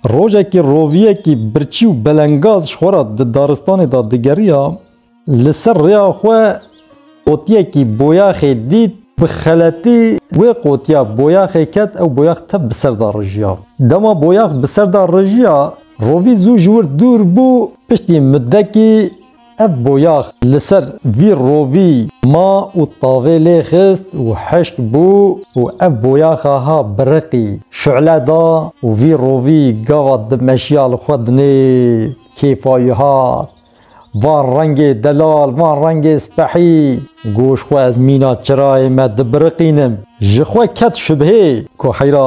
Rojekî roviyekî birçî û belengaz ji xwe re di daristanê de digeriya, li ser rêya xwe qotiyekî boyaxê dît, bi xeletî wê qotiya boyaxê ket ew boyax tev bi ser de rijiya. Dema boyax bi ser de rijiya, rovî zû ji wir dûr bû, piştî mudekî Ev boyax li ser vî rovî ma û tavê lê xist û hişk bû û ev boyaxa ha biriqî, şule da û vî rovî gava di meşiya li xwe dinê kêfa wî hat. Van rengê delal, van rengê spehî. Goş xwe ez mîna çirayê me dibiriqînim. Ji xwe ket şubhê ku heyra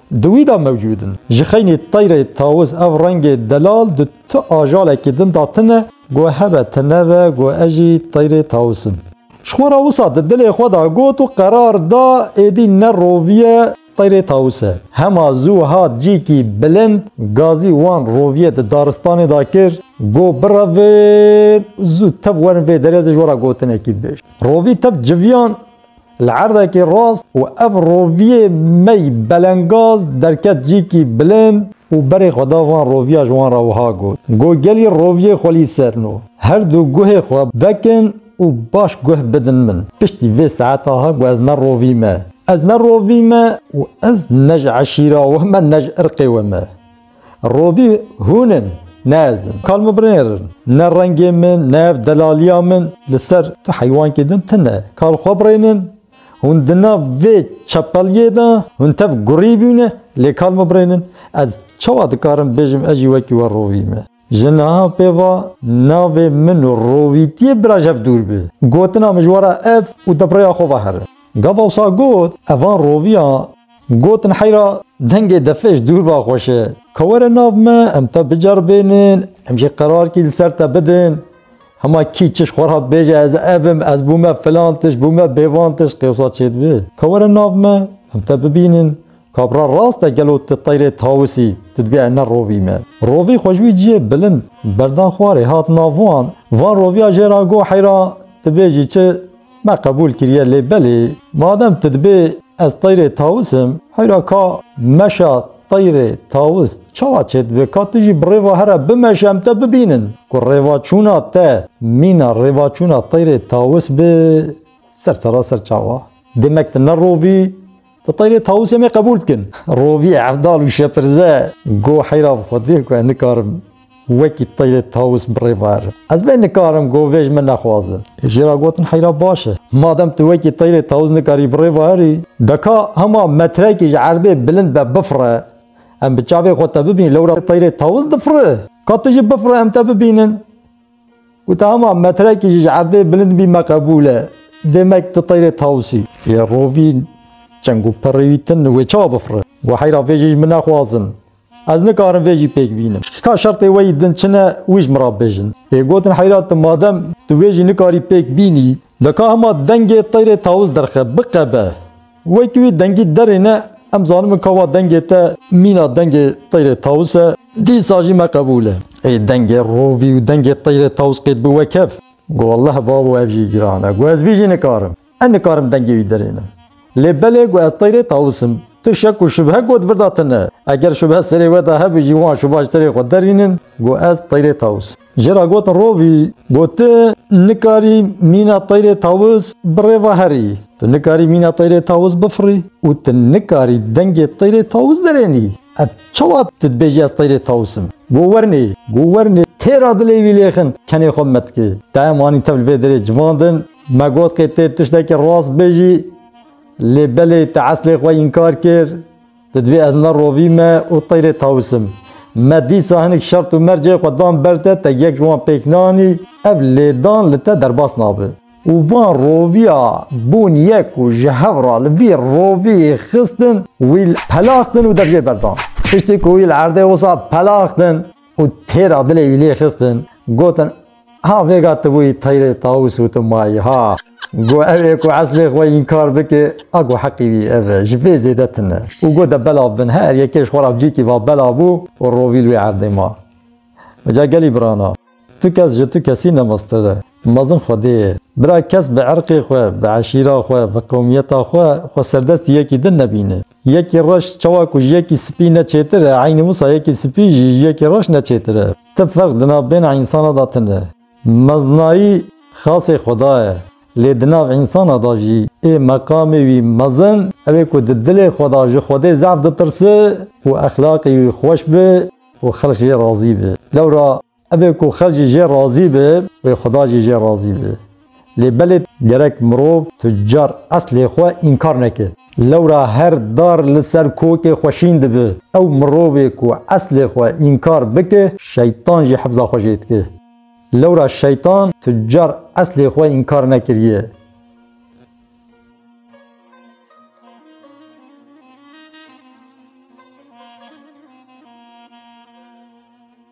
Di wî de mewcûd in. Ji xeynî teyrê tawiz ev rengê delal di tu ajalekî din de tune. Got hebe te nebe, got ez jî teyrê tawiz im. Ji xwe re wisa di dilê xwe de got û qerar da êdî ne roviye teyrê tawiz e. Hema zû hat cîkî bilind, gazî wan roviye di daristanê de kir, got birevin û zû tev werin vê derê de ji we re gotinekî bibêjin. Rovî tev civiyan Li erdekî rast û ev roviyê mey belengaz derket cîkî bilind û berê xwe da van roviya ji wan re wiha got, Go gelî roviyê xwe lî serno. Her du guhê xwe vekin û baş guh bidin min. Piştî vê saeta he ku ez ne rovî me. Ez ne rovî me û ez ne ji eşîra we me ne ji irqê we me. Rovî hûn in, ne ez in. Kal min binêr in. Ne rengê min, ne ev delaliya min. Li ser tu heywankê din tune. Kal xwe birênin. Hûn di nav vê çepeliyê de, hûn tev gurî bûne, lê kal min birênin. Ez çawa dikarim bêjim ez jî wekî we rovî me? Ji niha pê va navê min û rovîtiyê bira ji hev dûr bi. Gotina mijwara ev û di rêya xwe ve here. Gava wisa got, Ev van roviyan gotin heyra dengê defej dûr ve xweş e. Ka were nav me, em te biceribênin, em jî qerarkî li ser te bidin. Hema kî çi ji xwe re bêje ez ev im, ez bûme filan tişt, bûme bêvan tişt qê wisa çêdibe. Ka were nav me, em te bibînin, Kabra rast e gelo ti teyrê tawis î, ti dibê ew nerovî me. Rovî xwe ji wî ciyê bilind berdan xwarê hat navuan, van roviya jê ra got heyra ti bêjî çi, me qebûl kiriye lê belê madem ti dibê ez teyrê tawis im, heyra ka meşa teyrê tawis çawa çêdibe ka ti jî bi rêva here bimeşe em te bibînin ku rêvaçûna te mîna rêvaçûna teyrê tawis be ser seraser çawa demek ti nerovî Ti teyrê tawusê me qebûl bikin. Rovî, Evdal û Şepirze got heyra bi xwe dê ku ez nikarim wekî teyrê tawus bi rê verim. Ez bê nikarim got vê ji min nexwazin. Jê re gotin heyra baş e. Madem tu wekî teyrê tawus nikarî bi rê veirî, beka hema metrekî ji erdê bilind be bifire. Em bi çavê xwe te bibînin lewra teyrê tawus difire. Ka tu jî bifire em te bibînin. Got hema metrekî jî ji erdê bilind bî me qebûl e. Demek tu teyrê tawusî. Yê rovîn çend ku pirrî wî tin wê çawa bifire. Got heyra vê jî ji min nexwazin. Ez nikarim vê jî pêk bînim. Ka şertê we yî din çi ne wî ji min re bibêjin. Yê gotin heyra tu madem tu vê jî nikarî pêk bînî. De ka hema dengê teyrê tawûz derxe, biqebe. Wek wî dengî derê ne, em zanimin ka wa dengê te mîna dengê teyrê tawûz e, dîsa jî me qebûl e. Ey dengê rovî û dengê teyrê tawûz qêt bi wek hev? Gu welleh babo ev jî giran e. Gu ez vî jî nikarim. Ez nikarim dengê wî derê ne. Lê belê gu ez teyrê tawûz im. Tu şek û şubhe got virda te ne. Eger şubhe serê we de hebû jî wan şuba ji serê xwe derînin. Gu ez teyrê tawûz im. Jê re gotin rovî, got tu nikarî mîna teyrê tawiz bi rêva herî, tu nikarî mîna teyrê tawiz bifirî û tu nikarî dengê teyrê tawiz derênî. Ev çawa tu dibêjî ez teyrê tawiz im? Go wernê, go wernê, têra dilê wî lêxin, kenê xwe metikê. Dayem anî tev li vê derê civandin, me got qê tê tiştekî rast bêjî, lê belê tu eslê xwe înkar kir. Tu dibê ez nerovî me û teyrê tawisim. Me dîsa hinek şert û mercê xwe dan ber te, te yek ji wan pêk nanî, ev lêdan li te derbas nabe. Û van roviya bûn yek û ji hev re li vî roviyê xistin, wî pelaxtin û dev jê berdan. Piştî ku wî li erdê wisa pelaxtin, Û têra dilê wî lê xistin, gotin, Ha vêga tu bûyî teyrê Tawûs û tu mayî ha. Go ew ê ku eslê xwe înkar bike, a go heqî wî ev e, ji vê zêde tune. Û go de belav bin. Her yekê ji xwe re cîkî va belav bû û rovî li wê erdê ma. Ca gelî birana, tu kes ji tu kesî ne mestir e. Mezin xwedê ye. Bira kes bi irqê xwe, bi eşîra xwe, bi qewmiyeta xwe, xwe serdestî yekî din nebîne. Yekî reş çawa ku ji yekî spî ne çêtir e, eynî wisa yekî spî jî ji yekî reş ne çêtir e. Ti ferq di nav bêhna însanan de tune. Mezinayî xasê Xweda ye. Lê di nav însanan de jî ê meqamê wî mezin ew ê ku di dilê xwe de ji Xwedê zehf ditirse û exlaqê wî xweş be û xelk jê razî be. Lewra Ev ê ku xelk jî jê razî be, wê Xweda jî jê razî be. Lê belê gerek mirov tucar eslê xwe înkar neke. Lewra her dar li ser kokê xwe şîn dibe. Ew mirovê ku eslê xwe înkar bike, şeytan jî hifza xwe jê dike. Lewra şeytan tucar eslê xwe înkar nekiriye.